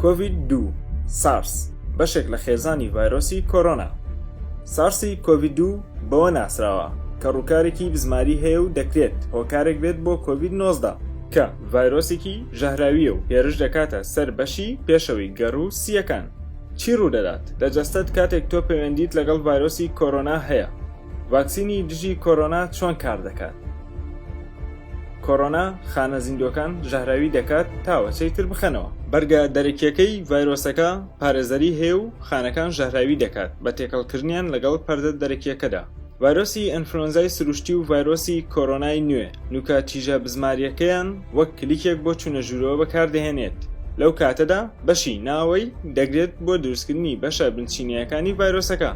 کۆڤید دو سارس بەشێک لە خێزانی ڤایرۆسی کۆرۆنا سارسی کۆڤید دو بەوە ناسراوە کە ڕووکارێکی بزماری هەیە و دەکرێت هۆکارێک بێت بۆ کۆڤید 19 کە ڤایرۆسێکی ژەهراویە و هێرش دەکاتە سەر بەشی پێشەوەی گەڕ و سییەکان چی ڕوودەدات لە جەستەت کاتێک تۆ پەیوەندیت لەگەڵ ڤایرۆسی کۆرۆنا هەیە ڤاکسینی دژی کۆرۆنا چۆن کار دەکات؟ کۆرۆنا خانە زیندووەکان ژەهراوی دەکات تاوەچەی تر بخەنەوە. بەرگە دەرەکییەکەی ڤایرۆسەکە پارێزەری هەیە و خانەکان ژەهراوی دەکات بە تێکەڵکردنیان لەگەڵ پەردە دەرەکییەکەدا. ڤایرۆسی ئەنفلۆنزای سروشتی و ڤایرۆسی کۆرۆنای نوێ نووکە تیژە بزمارییەکەیان وەک کلیکێک بۆ چوونە ژوورەوە بەکاردەهێنێت، لەو کاتەدا بەشی ناوەوەی دەگرێت بۆ دروستکردنی بەشە بنچینەیەکانی ڤایرۆسەکە.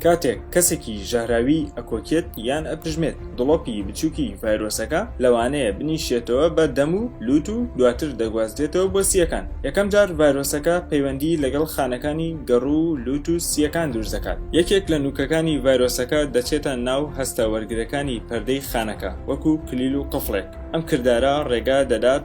کاتێک کەسێکی ژەهراوی ئەکۆکێت یان ئەپژمێت، دڵۆپی بچووکی ڤایرۆسەکە لەوانەیە بنیشێتەوە بە دەم و لووت و دواتر دەگوازرێتەوە بۆ سییەکان، یەکەم جار ڤایرۆسەکە پەیوەندی لەگەڵ خانەکانی گەڕو و لووت و سییەکان دروستدەکات، یەکێک لە نوکەکانی ڤایرۆسەکە دەچێتە ناو هەستە وەرگرەکانی پەردەی خانەکە وەکو کلیل و قفڵێک، ئەم کردارە ڕێگا دەدات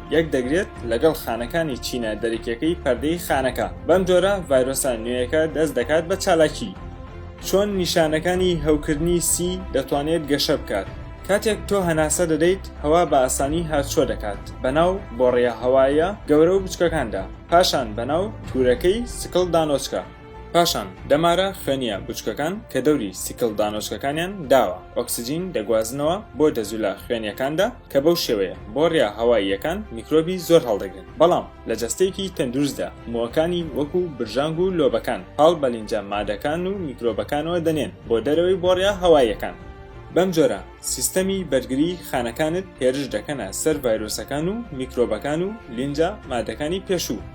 یەکدەگرێت لەگەڵ خانەکانی چینە دەرەکیەکەی پەردەی خانەکە بەم جۆرە ڤایرۆسە نوێیەکە دەست دەکات بە چالاکی. چۆن نیشانەکانی هەوکردنی سی دەتوانێت گەشە بکات؟ کاتێک تۆ هەناسە دەدەیت هەوا بە ئاسانی هاتوچۆ دەکات بەناو بۆڕییە هەواییە گەورە و بچکەکاندا پاشان بەناو تورەکەی سکڵ دانۆچکە، پاشان دەمارە خوێنییە بچکەکان کە دەوری سکڵ دانۆچکەکانیان داوە ئۆکسجین دەگوازنەوە بۆ دەزوولە خوێنییەکاندا، کە بەو شێوەیە بۆڕییە هەواییەکان میکرۆبی زۆر هەڵدەگرن، بەڵام لە جەستەیەکی تەندروستدا مووەکانی وەکو برژانگ و لۆبەکان پاڵ بە لینجە مادەکان و میکرۆبەکانەوە دەنێن بۆ دەرەوەی بۆڕییە هەواییەکان، بەم جۆرە سیستەمی بەرگری خانەکانت هێرش دەکەنە سەر ڤایرۆسەکان و میکرۆبەکان و لینجە مادەکانی پێشوو،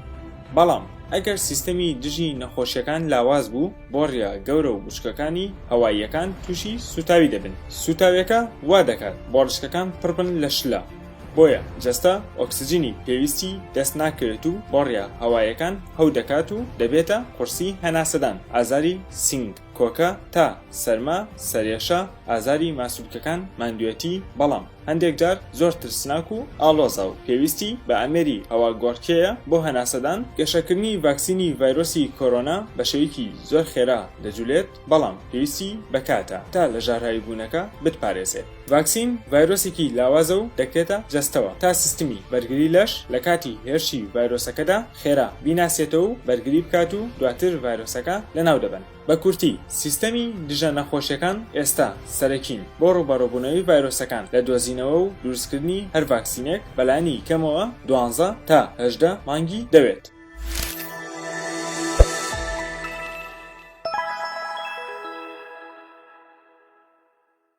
بەڵام ئەگەر سیستەمی دژی نەخۆشیەکان لاواز بوو، بۆڕییە گەورە و وشکەکانی هەواییەکان تووشی سووتاوی دەبن، سووتاویەکە وا دەکات بۆڕشکەکان پڕ بن لە شلە، بۆیە جەستە ئۆکسجینی پێویستی دەست ناکەوێت و بۆڕییە هەواییەکان هەو دەکات و دەبێتە قورسی هەناسەدان، ئازاری سنگ، کۆکە، تا، سەرما، سەرێشە، ئازاری ماسولکەکان، ماندوێتی، بەڵام. هەندێک جار زۆر ترسناک و ئاڵۆزە و پێویستی بە ئامێری هەواگۆڕکێیە بۆ هەناسەدان، گەشەکردنی ڤاکسینی ڤایرۆسی کۆرۆنا بە شێوەیەکی زۆر خێرا دەجولێت، بەڵام پێویستی بە کاتە تا لە ژاراویبوونەکە بتپارێزێت. ڤاکسین ڤایرۆسێکی لاوازە و دەکرێتە جەستەوە تا سیستمی بەرگری لەش لە کاتی هێرشی ڤایرۆسەکەدا خێرا بیناسێتەوە و بەرگری بکات و دواتر ڤایرۆسەکە لەناو دەبەن. بە کورتی، سیستەمی دژە نەخۆشیەکان ئێستا سەرەکین بۆ ڕوبەڕوبونەوەی ڤایرۆسەکان لە دۆزینەوە و دروستکردنی هەر ڤاکسینێک بەلانی کەمەوە دوانزە تا هەژدە مانگی دەوێت.